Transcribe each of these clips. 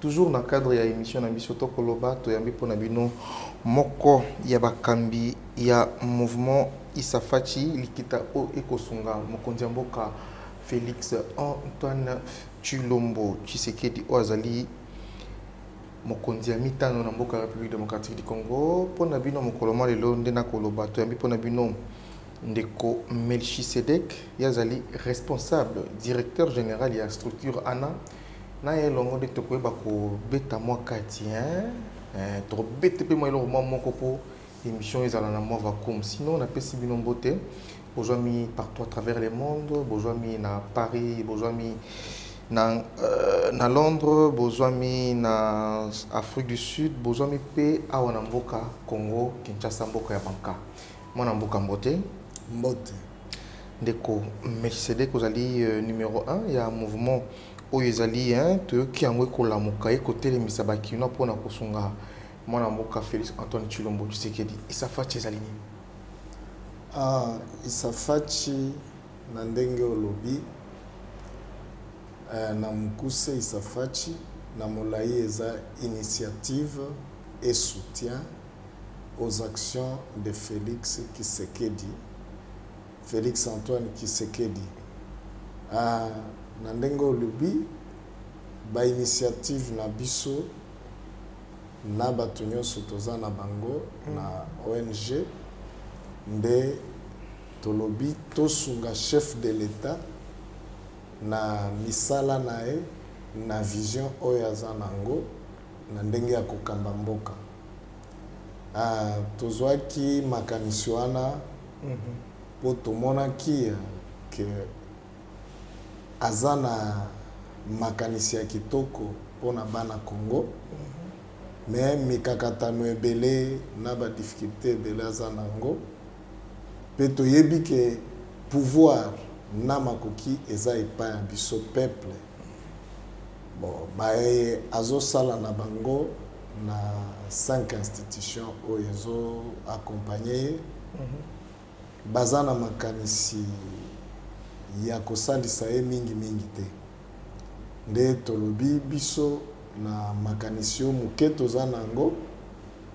Toujours na cadre ya emission na biso toko loba toyambi pona bino moko ya bakambi ya mouvement Issa Fatshi likita o eko sunga mokonzi ya mboka Felix Antoine Tshilombo Tshisekedi oyo azali mokonzi ya mitano na mboka ya Republique Democratique du Congo pona bino mokolo mwa lelo nde nako loba toyambi pona bino ndeko Melchisedek ye azali responsable directeur general ya structure ana Na ye elongo nde tokoyeba kobeta mwa kati hein. Eh, tokobete mpe mwa eloko mwa moko mpo emission ezala na mwa vacuum. Sinon napesi bino mbote. Bozwami partout à travers le monde, bozwami na Paris, bozwami na, euh, na Londres, bozwami na Afrique du Sud, bozwami mpe awa na mboka Congo Kinshasa mboka ya banka. Mwana mboka mbote. Mbote. Ndeko Melchisedek ozali numero un ya mouvement oyo ezali hein, toyoki yango ekolamuka ekotelemisa ba kinois mpo na kosunga mwana mboka Felix Antoine Tshilombo Tshisekedi. Issa Fatshi ezali nini? Ah, Issa Fatshi na ndenge olobi eh, na mokuse Issa Fatshi na molayi eza initiative et soutien aux actions de Felix kisekedi Felix Antoine kisekedi aah na ndenge olobi ba initiative na biso na batu nionso toza na bango na ong nde tolobi tosunga chef de l'etat na misala naye na vision oyo aza nango na ndenge ya kokamba mboka. Tozwaki makanisi wana mpo tomonaki que aza na makanisi ya kitoko mpo na bana Congo mais mikakatano ebele na ba difficultes ebele aza na yango mpe toyebi que pouvoir na makoki eza epai ya biso peuples. Bon baye azo sala na bango na cinq institutions oyo ezo accompagner ye baza na makanisi ya kosalisa ye mingi mingi te nde tolobi biso na makanisi oyo moke toza na yango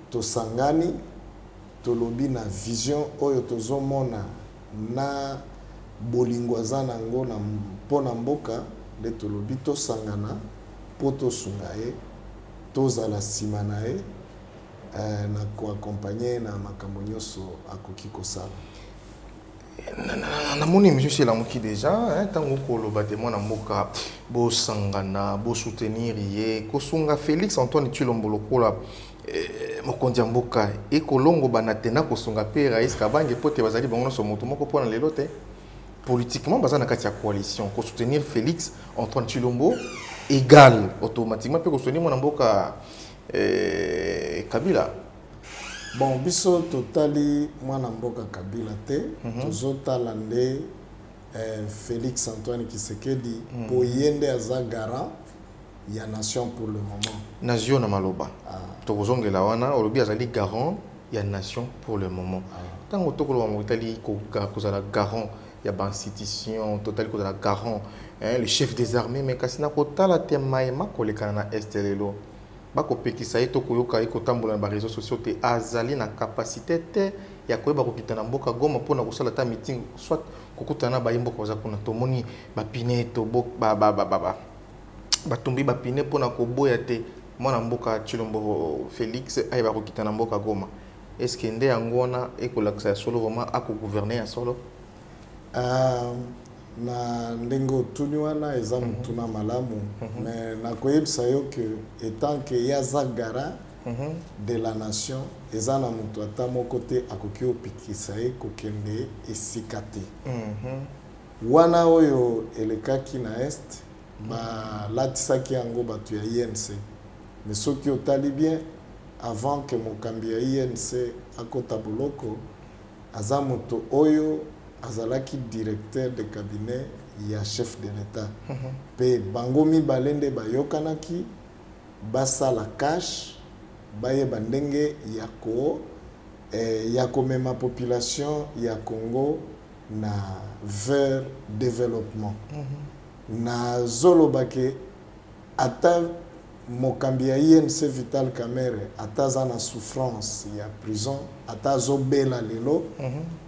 tosangani tolobi na vision oyo tozomona na bolingo aza na yango mpo na mboka nde tolobi tosangana mpo tosunga ye, tozala sima na ye eh, na ko accompagner ye na makambo nyonso akoki kosala. Namoni emission esi elamuki deja ntango okoloba te mwana mboka bosangana bosoutenir ye kosunga Felix Antoine Tshilombo lokola Mokonzi ya mboka ekolongobana te na kosunga mpe Rais Kabange mpo te bazali bango nyonso moto moko mpo na lelo te. Politiquement baza na kati ya coalition. Ko soutenir Felix, Antoine Tshilombo egale automatiquement mpe ko soutenir mwana mboka Kabila. Bon biso totali mwana mboka Kabila te, tozotala nde Felix Antoine Tshisekedi mpo ye nde aza garant. ya nation pour le moment. Nazwi yo na maloba. Tokozongela wana. Olobi azali garant ya nation pour le moment. Tango tokoloba makambo etali kozala garant ya ba institutions, totali kozala garant eh, le chef des armees, mais kasi na kotala te maye makolekana na Est lelo, bakopekisa ye to koyoka ye kotambola na ba reseaux sociaux te, azali na capacite te ya koyeba kokita na mboka Goma mpo na kosala ata meeting soit kokutana na bayi mboka baza kuna. Tomoni ba pine, tobo, ba, ba, ba, ba, ba. batumbi ba pine mpo na koboya te mwana mboka Tshilombo Felix ayeba kokita na mboka Goma. Est ce que nde yango wana ekolakisa ya solo vraiment ako gouverner ya solo? Ahh na ndenge otuni wana eza mhm. motuna malamu mhm. mais nakoyebisa yo que etant que ye aza gara mhm. de la nation eza na moto ata moko te akoki opikisa ye kokende esika te Wana oyo elekaki na Est, balatisaki yango batu ya INC. Mais soki otali bien, avant que mokambi ya INC akota boloko, aza moto oyo azalaki Directeur de Cabinet ya Chef de l'Etat. Mpe bango mibale nde bayokanaki basala cash, bayeba ndenge ya ko, eh, ya komema population ya Congo na vers developpement nazo loba ke ata mokambi ya UNC Vital Kamerhe ata aza na souffrance ya prison ata azo bela lelo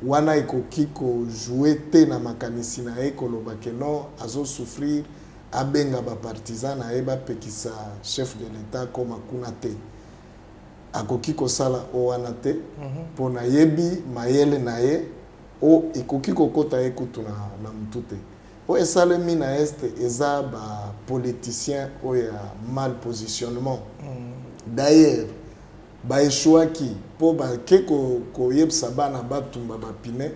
wana ekoki ko joue te na makanisi na ye koloba ke non azo souffrir abenga ba partisan na ye ba pekisa chef de l'etat akoma kuna te akoki kosala oyo wana te po nayebi mayele na ye O ekoki kokota ye kutu na na mutu te. Oyo esalemi na Est eza ba politiciens oyo ya mal positionnement. D'ailleurs ba echouaki po ba ke ko ko yebisa bana ba tumba ba pneus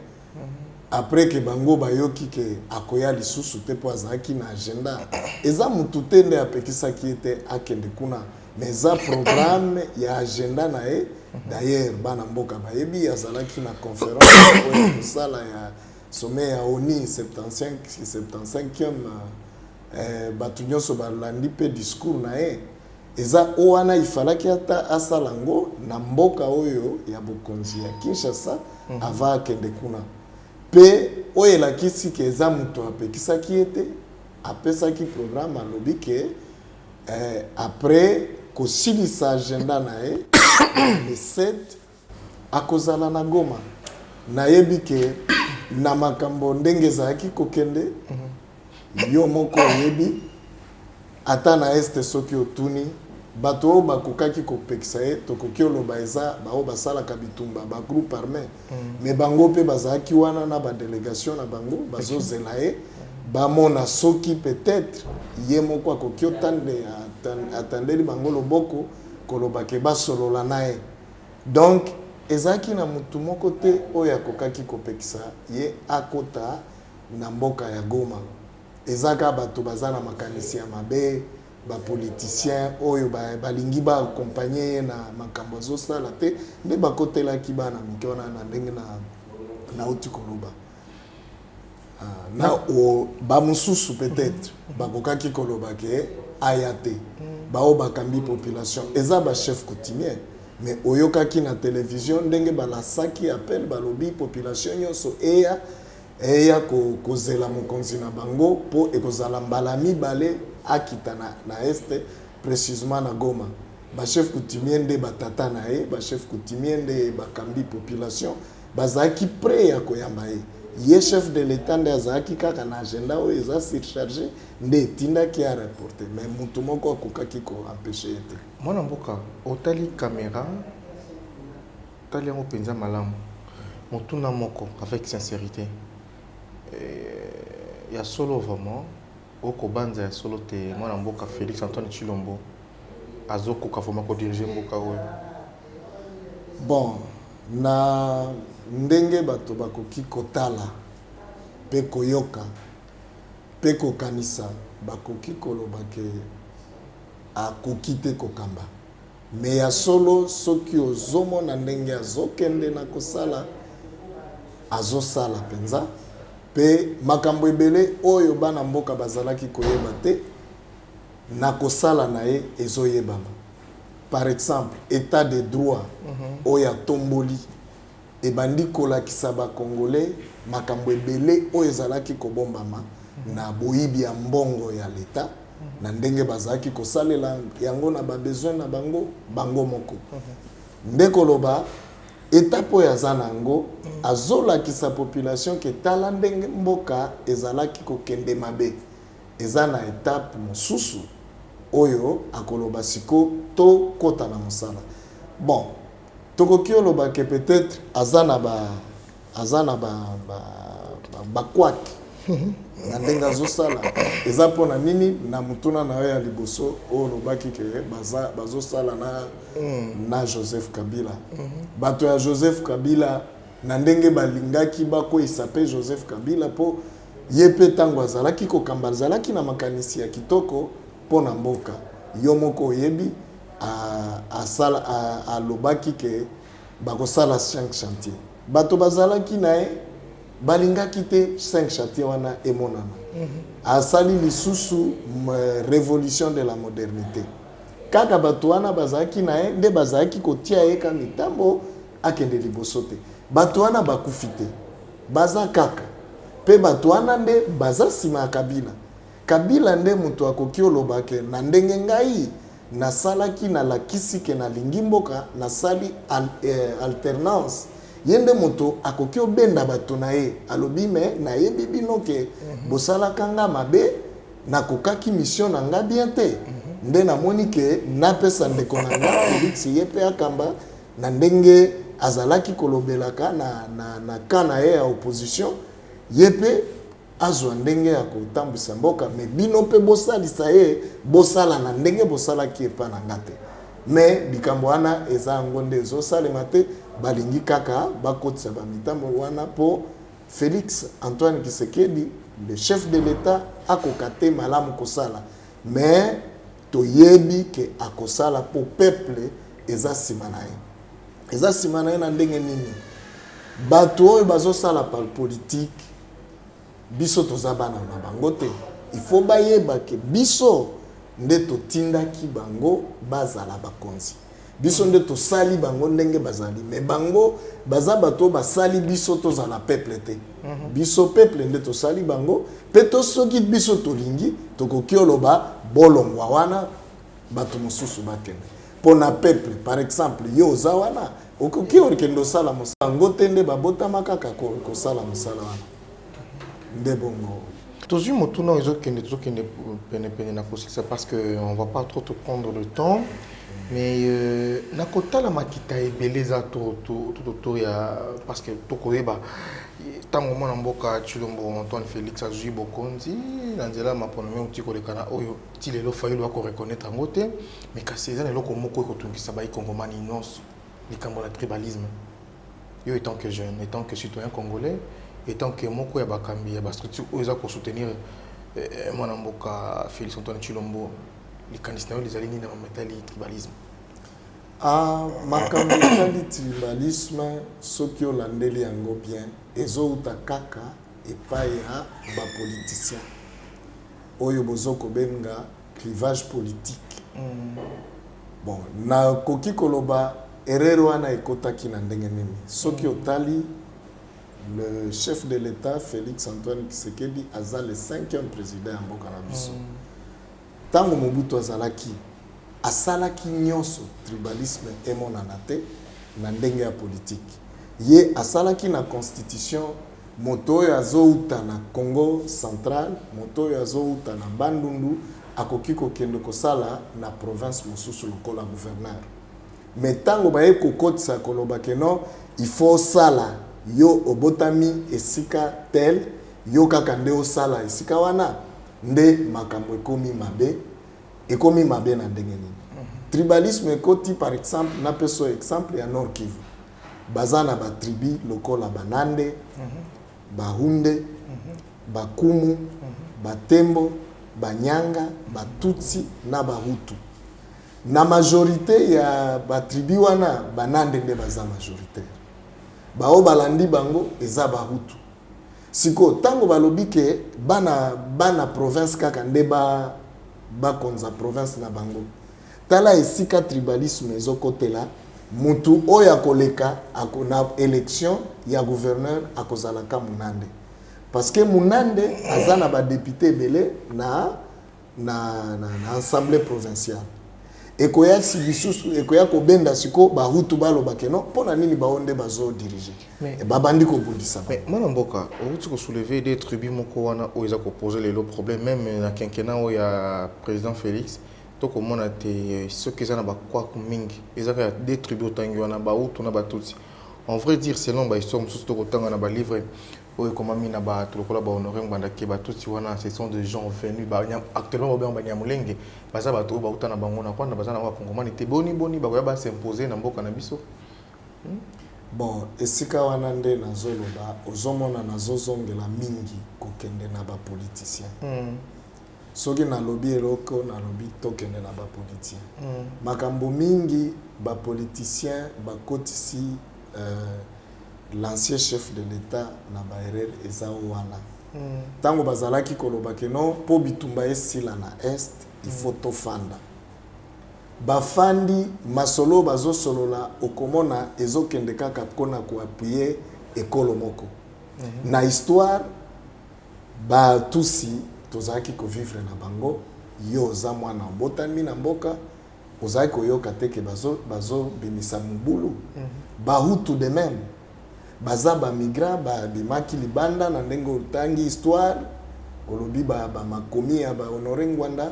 après que bango ba yoki que akoya lisusu te po azalaki na agenda. Eza mutu te nde apekisaki ye te akende kuna. mais eza programme ya agenda na ye d'ailleurs bana mboka bayebi azalaki na conférence oyo ya kosala ya sommet ya oni 75 75e eh, bato nyonso balandi mpe discours na ye eza o wana ifalaki ata asala yango na mboka oyo ya bokonzi ya kinshasa mhm. ava akende kuna mpe oyo elakisi ke eza moto apekisaki ye te apesaki programme alobi ke Eh, après kosilisa agenda na ye le 7 akozala na Goma. Nayebi ke na makambo ndenge ezalaki kokende, yo moko oyebi, ata na Est soki otuni bato oyo bakokaki kopekisa ye, tokoki oloba eza baoyo basalaka bitumba, ba groupes armes. mais bango mpe bazalaki wana na ba delegation na bango bazozela ye bamona soki peut-être ye moko akoki otande atandeli bango loboko koloba ke basolola na ye donc ezalaki na motu moko te oyo akokaki kopekisa ye akota na mboka ya Goma eza kaka bato baza na makanisi ya mabe ba politiciens oyo balingi ba accompagner ye na makambo azosala te nde bakotelaki bana mike wana na ndenge na nauti koloba ah, na bamosusu peut-être bakokaki koloba ke aya te baoyo bakambi population eza bachef coutumier mais oyokaki na télévision ndenge balasaki appel balobi population nyonso eya Eya ko kozela mokonzi na bango mpo ekozala mbala ya mibale akita na na Est, precisement na Goma. Ba chefs coutumiers nde ba tata na ye, ba chefs coutumiers nde bakambi population, bazalaki pret ya koyamba ye. Ye chef de l'Etat nde azalaki kaka na agenda oyo eza surcharger nde etindaki a reporter mais mutu moko akokaki ko empecher ye te. Mwana mboka otali camera. Tali yango penza malamu motuna moko avec sincerite eeh ya solo vraiment oko banza ya solo te mwana mboka Felix Antoine Tshilombo azo koka vraiment ko diriger mboka oyo? Bon na ndenge bato bakoki kotala pe koyoka pe kokanisa bakoki koloba ke akoki te kokamba. Mais ya solo soki ozo mona ndenge azo kende na kosala azo sala penza pe makambo ebele oyo bana mboka bazalaki koyeba te na kosala na ye ezo yebama par exemple etat de droit oyo atomboli ebandi kolakisa ba congolais makambo ebele oyo ezalaki kobombama na boyibi ya mbongo ya l'etat na ndenge bazalaki kosalela yango na ba besoin na bango bango moko nde koloba etape oyo aza na yango azolakisa population ke tala ndenge mboka ezalaki kokende mabe eza na etape mosusu oyo akoloba siko tokota na mosala bon Tokoki oloba que peut etre aza na ba aza na ba ba ba quack na ndenge azo sala eza pona nini na mutuna na yo ya liboso oyo olobaki que baza bazo sala na na Joseph Kabila bato ya Joseph Kabila na ndenge balingaki bakweyisa pe Joseph Kabila po ye pe tango azalaki kokamba azalaki na makanisi ya kitoko pona mboka yo moko oyebi a lobaki que bako sala cinq chantier bato ba zalaki naye ba lingaki te cinq chantier wana emonana a sali lisusu revolution de la modernite kaka bato wana ba zalaki naye nde ba zalaki ko tia ye ka mitambo a kende liboso te bato wana ba kufi te baza kaka pe bato wana nde baza sima ya kabila kabila nde moto akoki oloba que na ndenge ngai Na salaki na lakisi ke na lingi mboka na sali alternance ye nde moto akoki obenda bato na ye alobi me na yebi bino ke bosalaka nga mabe na kokaki mission na nga bien te nde na moni ke na pesa ndeko na nga Felix ye pe akamba na ndenge azalaki kolobelaka na na na camp na ye ya opposition ye pe azwa ndenge ya kotambwisa mboka mais bino mpe bosalisa ye bosala na ndenge bosalaki epa na nga te mais likambo wana eza yango nde ezosalema te balingi kaka bakotisa ba mitambo wana mpo Felix Antoine Kisekedi le chef de l'etat akoka te malamu kosala mais toyebi ke akosala mpo peuple eza nsima na ye eza nsima na ye na ndenge nini bato oyo bazosala par politique biso toza bana na bango te il faut bayeba ke biso nde totindaki bango bazala bakonzi biso nde tosali bango ndenge bazali me bango baza bato oyo basali biso tozala peuple te mhm. biso peuple nde tosali bango mpe to soki biso tolingi tokoki oloba bolongwa wana bato mosusu bakende mpo na peuple par exemple yo oza wana Okoki okende osala mosala yango te nde babotama kaka kosala mosala wana nde bongo. Tozwi motuna oyo ezokende tozokende penepene na kosilisa parce que on va pas trop te prendre le temps mais euh, na kotala makita ebele eza tototo ya parce que tokoyeba ntango mwana mboka tshilombo antoine félix azwi bokonzi na nzela ya mapono meuti koleka na oyo ti lelo fayulu akoreconnaitre yango te mais kasi eza na eloko moko ekotungisa baikongomani nyonso likambo na tribalisme yo etant que jeune etant que citoyen congolais etant que moko ya bakambi ya bastructure oyo eza kosoutenir eh, eh, mwana mboka félix antoine chilombo likanisi na yo lizali nini na makambo etali tribalisme ah, makambo etali tribalisme soki olandeli yango bien ezouta kaka epai ya bapoliticien oyo bozokobenga clivage politique bon na koki koloba erreur wana ekotaki na ndenge nini soki otali le chef de l'etat Felix Antoine Kisekedi aza le cinquième president ya mboka na biso mm. tango Mobutu azalaki asalaki nyonso tribalisme emonana te na ndenge ya politique ye asalaki na constitution Moto oyo azouta na Kongo central, moto oyo azouta na Bandundu akoki kokende kosala na province mosusu lokola gouverneur. Mais tango baye kokotisa koloba que non il faut osala, yo obotami esika tel, yo kaka nde osala esika wana, nde makambo ekomi mabe. Ekomi mabe na ndenge nini? Tribalisme ekoti par exemple, napeso exemple ya Nord-Kivu. Baza na ba tribu lokola ba Nande, ba Hunde, ba Kumu, ba Tembo, ba Nyanga, ba Tutsi na ba Hutu. Na majorite ya ba tribu wana ba Nande nde baza majoritaire. Ba oyo balandi bango eza ba Hutu. Sikoyo tango balobi ke bana bana province kaka nde ba bakonza province na bango. Tala esika tribalisme ezo kotela mutu oyo akoleka ako na election ya gouverneur akozala ka munande parce que munande aza na ba depute ebele na na na assemblee provinciale ekoya lisusu ekoya kobenda siko bahutu baloba ke non mpo na nini bango nde bazo dirige eh, babandi kobundisa mwana mboka outi kosouleve de tribu moko wana oyo eza kopose lelo problème meme na kenkena oyo ya président félix To komona te soki eza na ba kwaku mingi eza kaka deux tribus otangi wana ba hutu na ba tutsi en vrai dire selon ba histoire mususu to kotanga na ba livre oyo ekomami na batu lokola ba honore ngbanda que ba tutsi wana ce sont de gens venus ba actuellement ba bengaka ba niamulenge baza batu oyo ba uta na bango na rwanda baza na ba kongomani te boni boni bakoya ba s'imposer na mboka na biso hmm? Bon, esika wana nde nazoloba ozomona nazozongela mingi kokende na bapoliticien mm. soki nalobi eloko nalobi tokende na ba politien mm. makambo mingi ba politicien bakotisi euh, l'ancien chef de l'etat na baerreur eza wana ntango mm. bazalaki koloba keno mpo bitumba esila na est il faut mm. tofanda bafandi masolo oyo bazosolola okomona ezokende kaka mpona koapuye ekolo moko mm -hmm. na histoire Ba tutsi tozalaki ko vivre na bango, yo oza mwana obotami na mboka ozalaki koyoka te que bazo bazo bimisa mubulu? Ba hutu de meme baza ba migrants ba bimaki libanda na ndenge otangi histoire olobi ba ba makomi ya ba Honore Ngwanda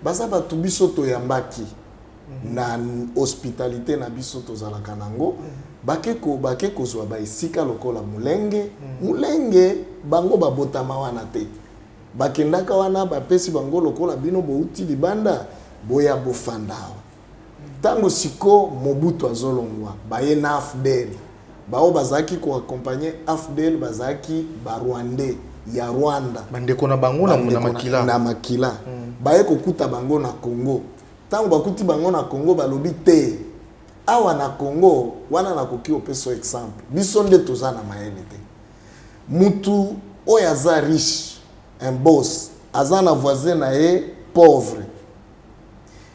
baza batu biso toyambaki. na hospitalite na biso tozalaka nango bake ko bake kozwa ba esika lokola mulenge mulenge bango babotama wana te bakendaka wana bapesi bango lokola bino bowuti libanda boya bofanda awa ntango siko mobutu azolongwa baye na afdl baoyo bazalaki ko accompagne afdl bazalaki ba rwandais ya rwanda bandeko na bango na makila na makila baye kokuta bango na congo Tango bakuti bango na Congo balobi te awa na Congo wana nakoki opesa yo exemple biso nde toza na mayele te mutu oyo aza riche un boss aza na voisin na ye pauvre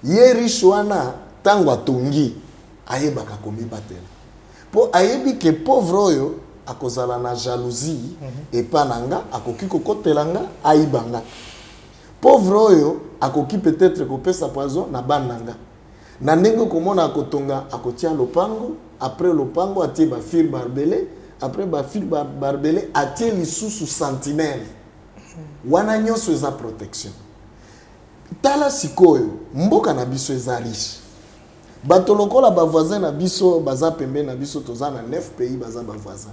ye riche wana tango atongi ayebaka komibatela mpo ayebi ke pauvre oyo akozala na jalousie mhm. epa na nga akoki kokotela nga ayiba nga Pauvre oyo akoki peut etre kopesa poison na bana na nga. Na ndenge okomona akotonga akotia lopango après lopango atie ba fir barbele après ba fir barbele atie lisusu sentinelle. Wana nionso eza protection. Tala sikoyo mboka na biso eza riche. Bato lokola ba voisin na biso baza pembeni na biso toza na 9 pays baza ba voisin.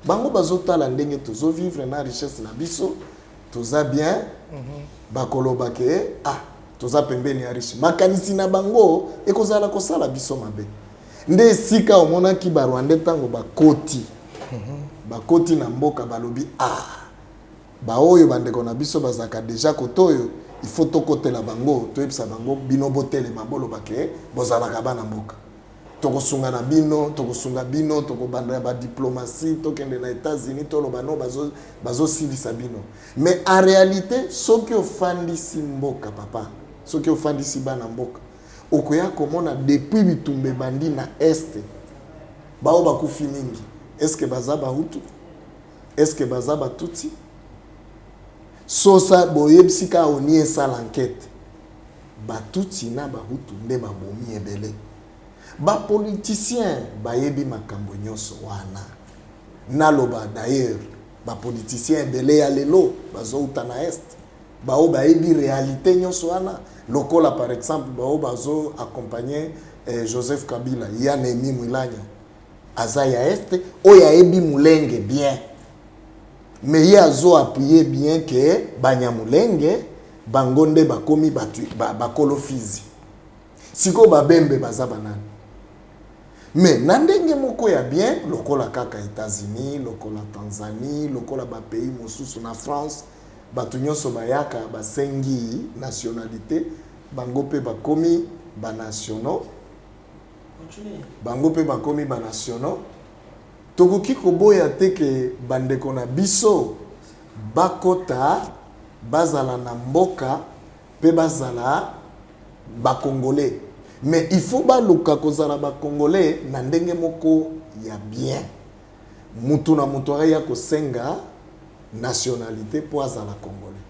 Bango bazo tala ndenge tozo vivre na richesse na biso toza bien bakoloba ke ah toza pembeni ya riche makanisi na bango ekozala kosala biso mabe nde esika omonaki barwande ntango bakoti bakoti na mboka balobi ah baoyo bandeko na biso bazalaka deja kote oyo ifo tokotela bango toyebisa bango bino botelema boloba ke bozalaka bana mboka tokosunga na bino tokosunga bino tokobanda ya badiplomatie tokende na états-unis toloba no bazosilisa bazo bino mais en réalité soki ofandisi mboka papa soki ofandisi bana mboka okoya komona depuis bitumba ebandi na este baoyo bakufi mingi eske baza bahutu eske baza batutsi sosa boyebisi kaka oni esala ankete Ba tutsi na ba hutu nde ba bomi ebele. Ba politiciens bayebi makambo nyoso wana. Naloba d'ailleurs ba politiciens ebele ya lelo bazo uta na Est. Ba oyo bayebi realite nyoso wana lokola par exemple ba oyo bazo accompagner Joseph Kabila, Ian Emmy Mwilanyo. aza ya est oyo ayebi mulenge bien mais ye azo appuye bien ke banyamulenge bango nde bakomi batu bakolo fizi sikoyo babembe baza banani mais na ndenge moko ya bien lokola kaka etats-unis lokola tanzanie lokola bapays mosusu na france bato nyonso bayaka basengi nationalité bango mpe bakomi banationaux bango mpe bakomi banasiono, tokoki koboya te ke bandeko na biso bakota, bazala na mboka mpe bazala ba congolais. Mais il faut baluka kozala ba congolais na ndenge moko ya bien, mutu na mutu aya kosenga nationalite mpo azala congolais.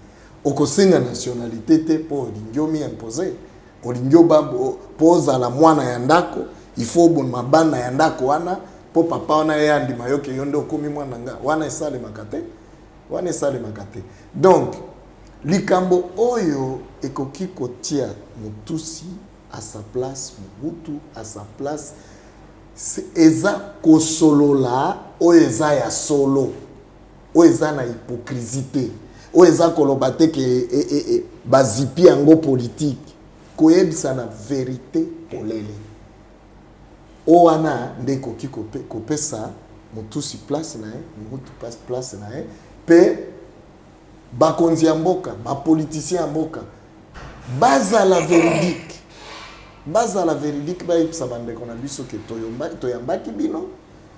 Okosenga nationalite te mpo olingi omi imposer Olingi oba po ozala mwana ya ndako il faut obonma bana ya ndako wana po papa wana ye andima yo ke yo nde okomi mwana na nga wana esalemaka te wana esalemaka te donc likambo oyo ekoki kotia motusi à sa place mobutu à sa place eza kosolola oyo eza ya solo Oyo eza na hypocrisie te. Oyo eza koloba te que bazipi yango politique. Koyebisana verite polele. Oyo wana nde ekoki kopesa Mututsi place na ye, Mobutu place na ye mpe bakonzi ya mboka, ba politiciens ya mboka bazala veridique. Bazala veridique, bayebisa bandeko na biso que toyambaki bino.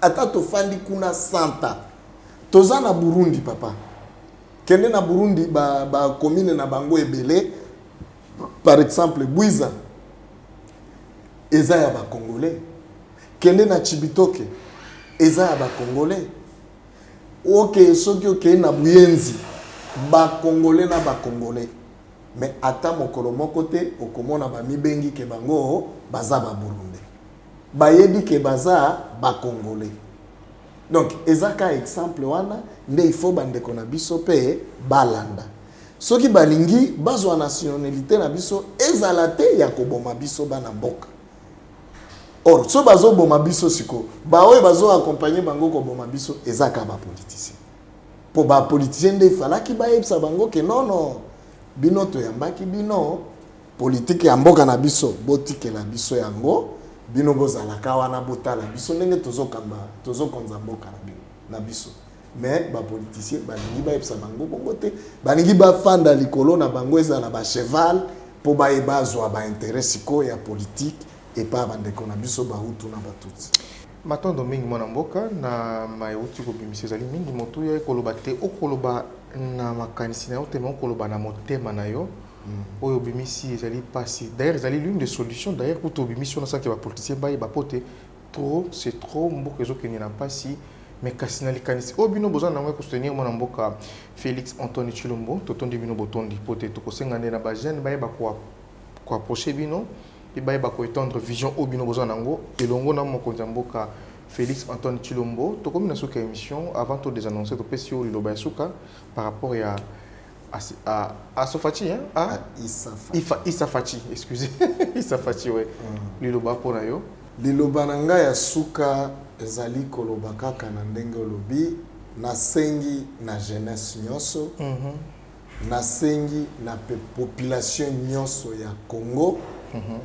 Ata tofandi kuna 100 ans. Toza na Burundi papa. Kende na Burundi ba ba commune na bango ebele. Par exemple Bwiza eza ya ba congolais. Kende na Chibitoke eza ya ba congolais. Oke soki okei na Buyenzi ba congolais na ba congolais. Mais ata mokolo moko te okomona ba mibengi ke bango baza ba Burundi. bayebi ke baza ba congolais donc eza ka exemple wana nde il faut ba ndeko na biso pe balanda soki balingi bazua nationalite na biso ezala te ya koboma biso bana mboka or so bazo boma biso siko ba oyo bazo accompagner bango koboma biso eza ka ba politiciens po ba politiciens nde falaki bayebisa bango ke non non bino toyambaki bino Politique ya mboka na biso botikela biso yango bino bozalaka wana botala biso ndenge tozo kamba tozo konza mboka na bino na biso mais ba politiciens balingi bayebisa bango bongo te balingi bafanda likolo na bango ezala ba cheval mpo baye bazwa ba intérêt sikoyo ya politique epa bandeko na biso bahutu na batutsi matondo mingi mwana mboka na mai euti kobimisa ezali mingi motuya ekoloba te okoloba na makanisi na yo te me okoloba na motema na yo Oyo obimisi ezali pasi d'ailleurs ezali l'une des solutions d'ailleurs kutu obimisi wana sans que ba politiciens bayeba po te trop c'est trop mboka ezo kende na pasi mais kasi na likanisi oyo bino boza na yango ya ko soutenir mwana mboka Felix Antoine Tshilombo totondi bino botondi po te toko senga nde na ba jeunes bayeba ko approcher bino pe bayeba ko etendre vision oyo bino boza na yango elongo na mokonzi ya mboka Felix Antoine Tshilombo. Tokomi na suka ya emission avant to desannoncer topesi yo liloba ya suka par rapport ya Asofachi, hein? Ah, ah Isafachi. Ifa, Isafachi, excusez. Isafachi, ouais. Mm. Liloba mpo na yo. Liloba na ngai ya suka ezali koloba kaka na ndenge olobi nasengi na jeunesse nyonso mm -hmm. nasengi na population nyonso ya Congo mm -hmm.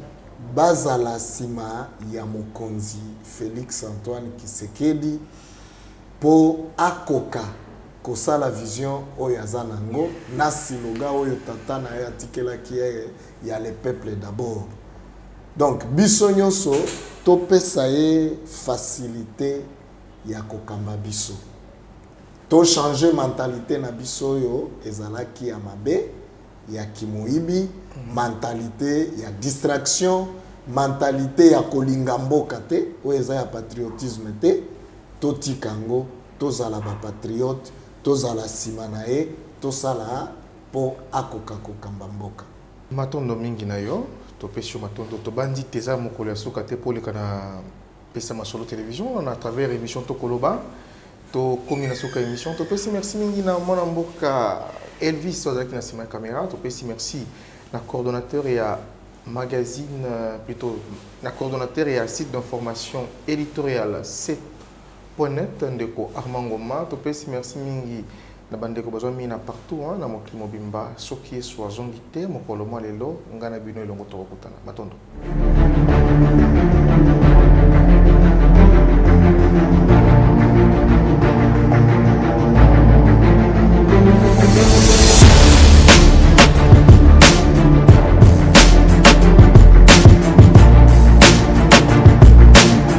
bazala nsima ya mokonzi Felix Antoine Kisekedi mpo akoka Kosala vision oyo aza na ngo na siloga oyo tata na ye atikelaki ye ya le peuple d'abord. Donc biso nionso to pesa ye facilite ya ko kamba biso. To changer mentalite na biso oyo ezalaki ya mabe, ya ki moyibi, mentalite ya distraction, mentalite ya ko linga mboka te, oyo eza ya patriotisme te. To tika ngo. Tozala ba patriotes, tozala sima na ye, tosala po akoka kokamba mboka. Matondo mingi na yo. Topesi yo matondo. Tobanzi te eza mokolo ya suka te po oleka na Pesa Masolo Television na travers emission Toko Loba. Tokomi na suka ya emission. Topesi merci mingi na mwana mboka Elvis oyo azalaki na sima ya camera. Topesi merci na coordonnateur ya magazine, plutot na coordonnateur ya site d'information editoriale, Point net ndeko Armand Ngoma, topesi merci mingi na ba ndeko bazwa mina partout hein na mokili mobimba, soki Yesu azongi te mokolo mwa lelo, ngai na bino elongo tokokutana. Matondo.